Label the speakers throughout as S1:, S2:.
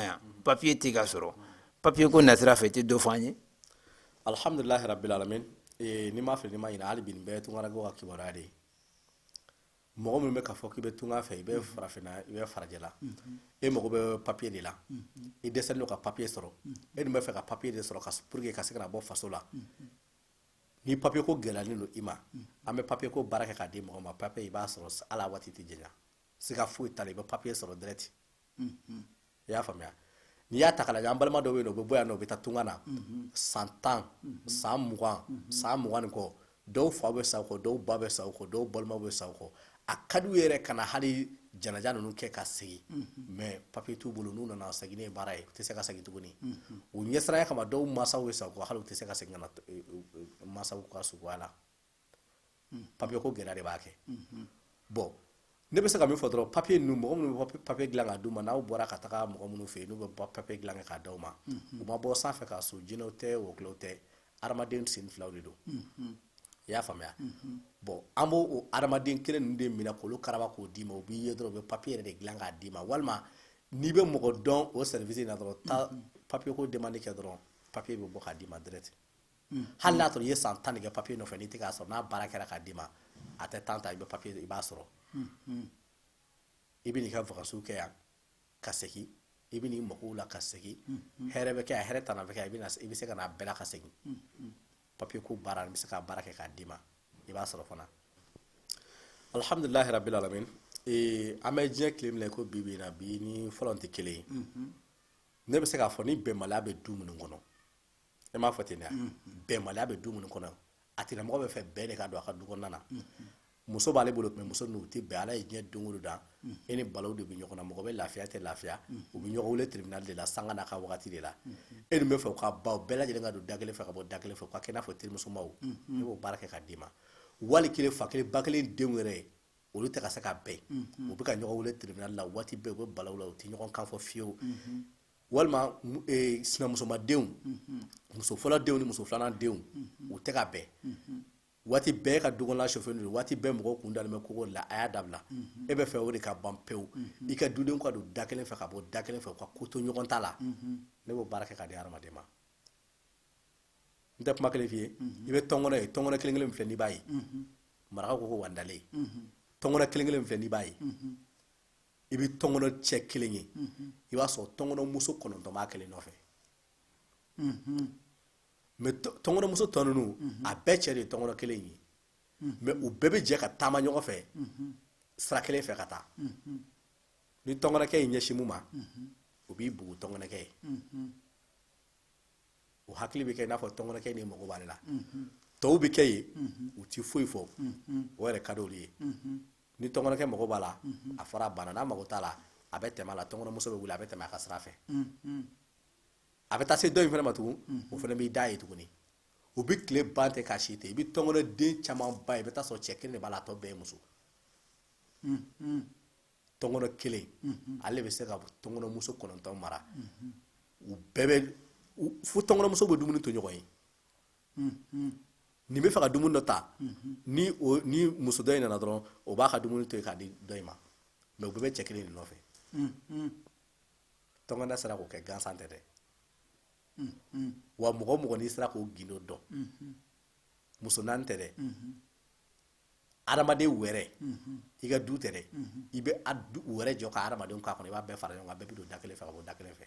S1: yan papiye tɛ ka sɔrɔ papiye ko nasira fɛ i tɛ dɔ fɔ an ye
S2: alihamdulilahi rabbil alamin ni n ma fili ni n ma ɲinɛ hali bi nin bɛɛ ye tungarankew ka kibaruya de ye mɔgɔ min bɛ k'a fɔ k'i bɛ tunga fɛ i bɛ farafinna i bɛ farajɛla e mago bɛ papiye de la i dɛsɛlen don ka papiye sɔrɔ e dun bɛ fɛ ka papiye de sɔrɔ ka pour que ka se ka na bɔ faso la ni papiye ko gɛlɛyalen don i ma an bɛ papiye ko baara kɛ k'a di mɔgɔ ma papiye i b'a sɔrɔ ala waati tɛ janya siga foyi t'a la i bɛ papiye sɔrɔ direct i y'a faamuya n'i y'a ta k'a lajɛ an balima dɔw bɛ yen u bɛ bɔ yan u bɛ taa tunga na san tan san mugan san mugan ni kɔ dɔw fa bɛ sa u kɔ dɔw ba bɛ sa u kɔ dɔw balima bɛ sa u kɔ a ka d'u ye yɛrɛ ka na hali janaja ninnu kɛ ka segin mais papiye t'u bolo n'u nana segin ye baara ye u tɛ se ka segin tuguni u ɲɛsiranya kama dɔw mansaw bɛ sa u kɔ hali u tɛ se ka segin mansaw ka suko la papiye ko gɛlɛya de b'a kɛ bɔn ne bɛ se ka min fɔ dɔrɔn papiye ninnu mɔgɔ minnu bɛ papiye dilan k'a d'u ma n'aw bɔra ka taga mɔgɔ minnu fɛ yen n'u bɛ papiye dilan kɛ k'a d'aw ma u ma bɔ sanfɛ ka so jinɛw tɛ wɔkulɔw tɛ adamaden sen filaw de don i y'a faamuya bɔn an b'o hadamaden kelen ninnu de minɛ k'olu karaba k'o d'i ma u b'i ye dɔrɔn u bɛ papiye yɛrɛ de dilan k'a d'i ma walima n'i bɛ mɔgɔ dɔn o service in na dɔrɔn taa papiye ko demande kɛ dɔrɔn papiye bɛ bɔ k'a d'i ma direct hali n'a sɔrɔ i ye san tan kɛ papiye nɔfɛ n'i tɛ k'a sɔrɔ n'a baara kɛra k'a d'i ma a tɛ temps ta i bɛ papiye i b'a sɔrɔ i bɛ n'i ka vacances kɛ yan ka segin i bɛ n'i magow la ka segin hɛrɛ bɛ kɛ yan hɛrɛ tana bɛ kɛ yan i bɛ se ka n'a bɛɛ la ka segin papiye ko baara n bɛ se k'a baara kɛ k'a d'i ma i b'a sɔrɔ fana alihamdulilahi rabbil alamin an bɛ diɲɛ tile min na i ko bi bi na bi ni fɔlɔ tɛ kelen ye ne bɛ se k'a fɔ ni bɛnbaliya bɛ du minnu kɔnɔ e m'a fɔ ten dɛ bɛnbaliya bɛ du minnu kɔnɔ a tigilamɔgɔ bɛ fɛ bɛn de ka don a ka du kɔnɔna na muso b'ale bolo mais muso ninnu tɛ bɛn ala ye diɲɛ don o don da e ni balaw de bɛ ɲɔgɔn na mɔgɔ bɛ lafiya tɛ lafiya u bɛ ɲɔgɔn wele tribunal de la sanga n'a ka waati de la e dun bɛ fɛ u ka baw bɛɛ lajɛlen ka don da kelen fɛ ka bɔ da kelen fɛ u ka kɛ i n'a fɔ terimusomaw ne b'o baara kɛ k'a d'i ma wali kelen fa kelen ba kelen denw yɛrɛ ye olu tɛ ka se ka bɛn u bɛ ka ɲɔgɔn wele tribunal la waati bɛɛ u bɛ balaw la u tɛ ɲɔgɔn kan fɔ fiyewu walima sinamusomadenw muso fɔlɔ denw ni muso filanan denw u tɛ ka bɛn waati bɛɛ ka dukɔnɔna chauffé don waati bɛɛ mɔgɔw kun dalen bɛ kogo la a y'a dabila e bɛ fɛ o de ka ban pewu i ka dudenw ka don da kelen fɛ ka bɔ da kelen fɛ u ka ko to ɲɔgɔn ta la ne b'o baara kɛ k'a di hadamaden ma n tɛ kuma kelen f'i ye i bɛ tɔnkɔnɔ ye tɔnkɔnɔ kelen kelen min filɛ n'i b'a ye marakaw ko ko wandalen tɔnkɔnɔ kelen kelen min filɛ n'i b'a ye i bɛ tɔnkɔnɔ cɛ kelen ye mhm. i b'a sɔrɔ tɔnkɔnɔmuso kɔnɔntɔn b'a kelen nɔfɛ mhm. mɛ tɔnkɔnɔmuso tɔ ninnu mhm. a bɛɛ cɛ de ye tɔnkɔnɔ kelen ye mɛ u bɛɛ bɛ jɛ ka taama ɲɔgɔn fɛ sira kelen fɛ ka taa ni tɔnkɔnɔkɛ y'i ɲɛsin mun ma o b'i bugu tɔnkɔnɔkɛ ye o hakili bɛ kɛ i n'a fɔ tɔnkɔnɔkɛ nin mago b'ale la tɔw bɛ kɛ yen u ti foyi fɔ o yɛrɛ ka d'olu ye ni tɔnkɔnɔkɛ mago b'a la a fɔra a banna n'a mago t'a la a bɛ tɛmɛ a la tɔnkɔnɔmuso bɛ wuli a bɛ tɛmɛ a ka sira fɛ a bɛ taa se dɔ in fana ma tugun o fana b'i d'a ye tuguni u bɛ tile ban ten ka si ten i bɛ tɔnkɔnɔden caman ba ye i bɛ taa sɔrɔ cɛ kelen de b'a la a tɔ bɛɛ ye muso tɔnkɔnɔ kelen ale bɛ se ka tɔnkɔnɔmuso kɔnɔntɔn mara u bɛɛ bɛ fo tɔnkɔnɔmusow bɛ dumuni to ɲɔgɔn ye nin bɛ fɛ ka dumuni dɔ ta ni muso dɔ in nana dɔrɔn o b'a ka dumuni to yen k'a di dɔ in ma mɛ u bɛɛ bɛ cɛ kelen de nɔfɛ tɔnkɔnɔ sera k'o kɛ gansan tɛ dɛ wa mɔgɔ mɔgɔ n'i sera k'o gindo dɔn muso naani tɛ dɛ adamaden wɛrɛ i ka du tɛ dɛ i bɛ wɛrɛ jɔ ka adamadenw k'a kɔnɔ i b'a bɛɛ fara ɲɔgɔn kan bɛɛ bɛ don da kelen fɛ ka bɔ da kelen fɛ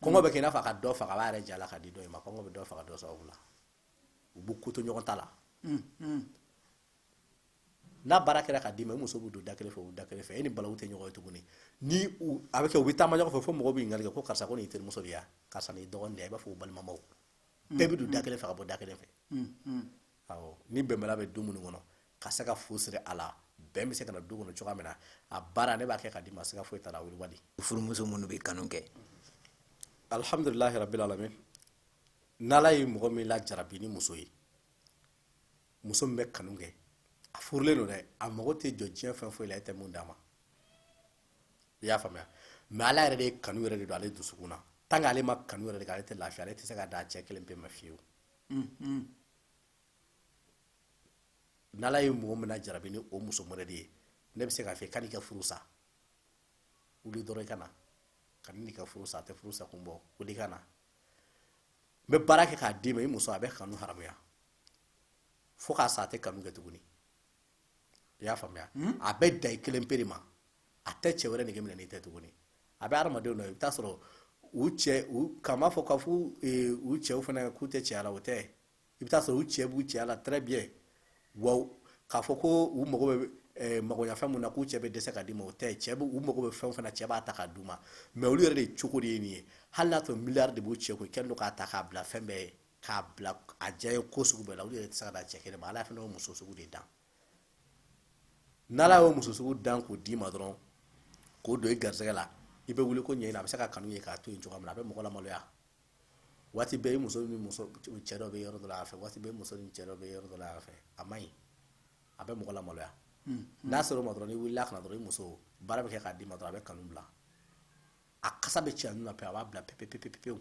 S2: kɔngɔ bɛ kɛ n'a fɔ ka dɔ faga b'a yɛrɛ jala ka di dɔ ma kɔngɔ bɛ dɔ faga dɔ sababu la u b'u koto ɲɔgɔn ta la n'a baara kɛra k'a d'i ma i muso b'u don da kelen fɛ u da kelen fɛ e ni balawu tɛ ɲɔgɔn ye tuguni ni a bɛ kɛ u bɛ taama ɲɔgɔn fɛ fo mɔgɔ bɛ ɲininkali kɛ ko karisa ko nin y'i terimuso de ye karisa nin y'i dɔgɔnin de ye i b'a fɔ u balimamaw bɛɛ bɛ don da kelen fɛ ka bɔ da kelen fɛ ni bɛnbaliya bɛ du minnu kɔnɔ ka se ka fu siri a la bɛn bɛ se ka na du kɔnɔ cogoya min na a baara ne b'a kɛ k'a d'i ma siga foyi t'a la wali furumuso minnu bɛ
S1: kanu kɛ
S2: alihamdulilahi rabil alamin n'ala ye mɔgɔ min lajarabi ni muso ye muso min bɛ kanu kɛ a furulen don dɛ a mago tɛ jɔ diɲɛ fɛn foyi la e tɛ mun d'a ma i y'a faamuya mɛ ala yɛrɛ de ye kanu yɛrɛ de don ale dusukun na tant que ale ma kanu yɛrɛ de kɛ ale tɛ lafiya ale tɛ se ka da cɛ kelen pe ma fiyewu ni ala ye mɔgɔ min lajarabi ni o muso mɔdɛli ye ne bɛ se k'a fɔ kan'i ka furu sa wuli dɔrɔn i ka na kan'i ka furu sa a tɛ furu sa kun bɔ wuli ka na n bɛ baara kɛ k'a d'i ma i muso a bɛ kanu haramuya fo k'a sa a tɛ kanu kɛ tuguni i y'a faamuya hmm? a bɛ da i kelen pere ma a tɛ cɛ wɛrɛ nege minɛ n'i tɛ tuguni a bɛ hadamadenw dɔ i bɛ taa sɔrɔ u cɛ u k'a ma fɔ k'a fɔ e, u cɛw fana k'u tɛ cɛya la o tɛ i bɛ taa sɔrɔ u cɛ b'u cɛya la très bien wa k'a fɔ ko u mago bɛ e, magoɲafɛn mun na k'u cɛ bɛ dɛsɛ k'a d'u ma o tɛ cɛ u mago bɛ fɛn o fɛn na cɛ b'a ta k'a d'u ma mɛ olu yɛrɛ de cogo de ye nin ye hali n'a sɔrɔ miliyari de b'u cɛ kun i kɛlen don k'a ta k'a bila fɛn bɛɛ ye k'a bila a diya ye ko sugu bɛɛ la olu yɛrɛ tɛ se ka dan cɛ kelen ma ala fana y'o muso sugu de dan n'ala y'o muso sugu dan k'o d'i ma dɔrɔn k'o don i garisɛgɛ la i bɛ wuli ko ɲɛɲini a bɛ se ka kanu ye k'a to yen cogoya min na a bɛ mɔgɔ lamaloya waati bɛɛ i muso ni muso cɛ dɔ bɛ yɔrɔ dɔ la a fɛ waati bɛɛ muso ni cɛ dɔ bɛ yɔrɔ dɔ la a fɛ a man ɲi a bɛ mɔgɔ lamaloya hmm. n'a sɔrɔ o ma dɔrɔn n'i wulila ka na dɔrɔn i muso baara bɛ kɛ k'a d'i ma dɔrɔn a bɛ kanu bila a kasa bɛ cɛ ninnu na pe a b'a bila pepepepepewu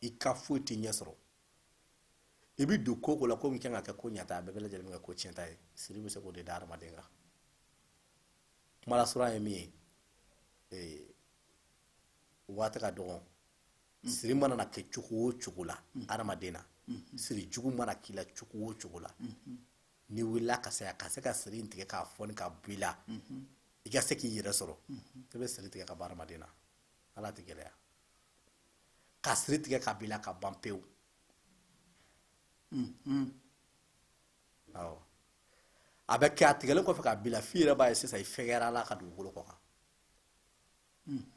S2: i ka foyi tɛ ɲɛ sɔrɔ i bɛ don ko o ko la ko min kan ka kɛ ko ɲata a bɛɛ bɛ lajɛlen kɛ ko tiɲɛta ye siri bɛ se k'o de da hadamaden kan kuma lasurunya ye min ye ee waati ka dɔgɔn siri mana na kɛ cogo o cogo la hadamaden na siri jugu mana k'i la cogo o cogo la n'i wulila ka se yan ka se ka siri in tigɛ k'a foni ka bɔ i la i ka se k'i yɛrɛ sɔrɔ i bɛ siri tigɛ ka bɔ hadamaden na ala tɛ gɛlɛya ka siri tigɛ ka bɔ i la ka ban pewu awɔ a bɛ kɛ a tigɛlen kɔfɛ ka bɔ i la f'i yɛrɛ b'a ye sisan i fɛgɛyara ala ka dugukolo kɔ kan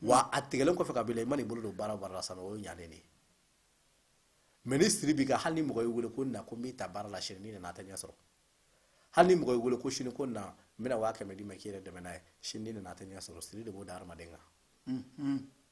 S2: wa a tigɛlen kɔfɛ ka bɔ i la i mana i bolo don baara o baara la sisan o ye ɲalen de ye mɛ ni siri b'i kan hali ni mɔgɔ y'i wele ko na ko n b'i ta baara la sini n'i nana a tɛ ɲɛ sɔrɔ hali ni mɔgɔ y'i wele ko sini ko na n bɛna waa kɛmɛ d'i ma k'i yɛrɛ dɛmɛ n'a ye sini n'i nana a tɛ ɲɛ sɔrɔ siri de b'o da hadamaden kan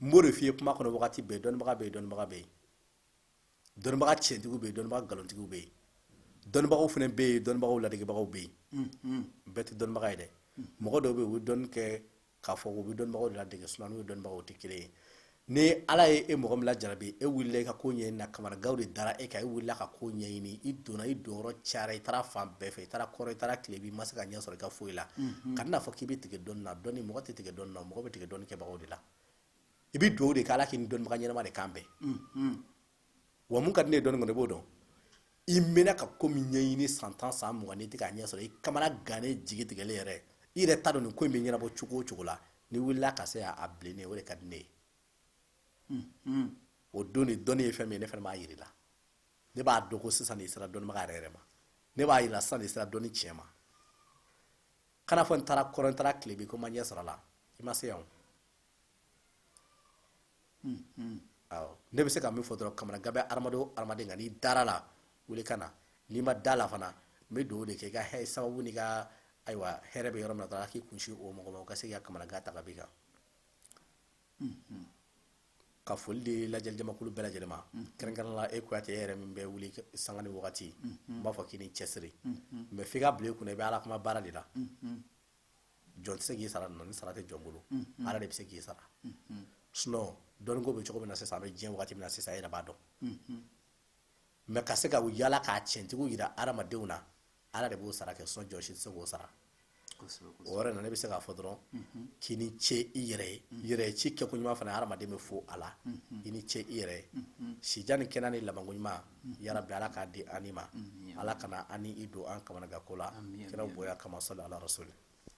S2: n b'o de f'i ye kuma kɔnɔ wagati bɛɛ dɔnnibaga bɛ yen dɔnnibaga bɛ yen dɔnnibaga tiɲɛtigiw bɛ yen dɔnnibaga nkalontigiw bɛ yen dɔnnibagaw fana bɛ yen dɔnnibagaw ladegebagaw bɛ yen mm-hmm. bɛɛ tɛ dɔnnibaga ye dɛ mm-hmm. mɔgɔ dɔw bɛ yen u bɛ dɔnni kɛ k'a fɔ u bɛ dɔnnibagaw de ladege sinɔn n'u ye dɔnnibagaw tɛ kelen ye ni ala ye e mɔgɔ min lajarabi e wulila i ka ko ɲɛɲini na kamanaganw de dara e kan e wulila ka ko ɲɛɲini i donna i donyɔrɔ cayara i taara fan bɛɛ fɛ i taara kɔrɔn i taara tilebin i ma se ka ɲɛ sɔrɔ i ka foyi la mm-hmm. ka n'a fɔ k'i bɛ tigɛ dɔnni na dɔnni mɔgɔ tɛ tigɛ dɔnni na mɔgɔ bɛ tigɛ dɔnni kɛbagaw de la i bɛ dugawu de kɛ ala k'i ni dɔnnibaga ɲɛnama de kan bɛn wa mun ka di ne ye dɔnni kɔnɔ i b'o dɔn i mɛnna ka ko min ɲɛɲini san tan san mugan n'i tɛ k'a ɲɛ sɔrɔ i kamana gannen jigi tigɛlen yɛrɛ i yɛrɛ t'a dɔn nin ko in bɛ ɲɛnabɔ cogo o cogo la n'i wulila ka se a bilennen o de ka di ne ye o don de dɔnni ye fɛn min ye ne fana b'a yir'i la ne b'a dɔn ko sisan de sera dɔnnibaga yɛrɛ yɛrɛ ma ne b'a yira sisan de sera dɔnni tiɲɛ ma kan'a fɔ n taara kɔrɔn n taara tilebin ko n ma ɲɛ sɔrɔ a la i ma se yan hmm, hmm. ne bɛ se ka min fɔ dɔrɔn kamana gan bɛ hadamaden o hadamaden kan n'i dar'a la wuli ka na n'i ma d'a la fana n bɛ dugawu de kɛ i ka hɛ sababu n'i ka ayiwa hɛrɛ bɛ yɔrɔ min na dɔrɔn ala k'i kunsin o mɔgɔ ma o ka se k'i ka kamana gan ta ka b'i kan ka foli di lajɛli jamakulu bɛɛ lajɛlen ma kɛrɛnkɛrɛnnenya la e kuyate yɛrɛ min bɛ wuli sanga ni wagati n b'a fɔ k'i ni cɛsiri mɛ f'i k'a bila i kun na i bɛ ala kuma baara de la jɔn tɛ se k'i sara ni sara tɛ jɔn bolo ala de bɛ se k'i sara sinɔn dɔnniko bɛ cogo min na sisan an bɛ diɲɛ waati min na sisan i yɛrɛ b'a dɔn mɛ ka se ka u yaala ka tiɲɛtigiw jira hadamadenw na Ala de b'o sara kɛ sinɔn jɔn si tɛ se k'o sara o yɔrɔ in na ne bɛ se k'a fɔ dɔrɔn k'i ni ce i yɛrɛ ye yɛrɛ ci kɛko ɲuman fana hadamaden bɛ fo a la i ni ce i yɛrɛ ye sijan ni kɛnɛ ni labanko ɲuman yarabi ala k'a di an ma ala kana an ni i don an kamanaganko la kira bonya kama sɔli ala rasuli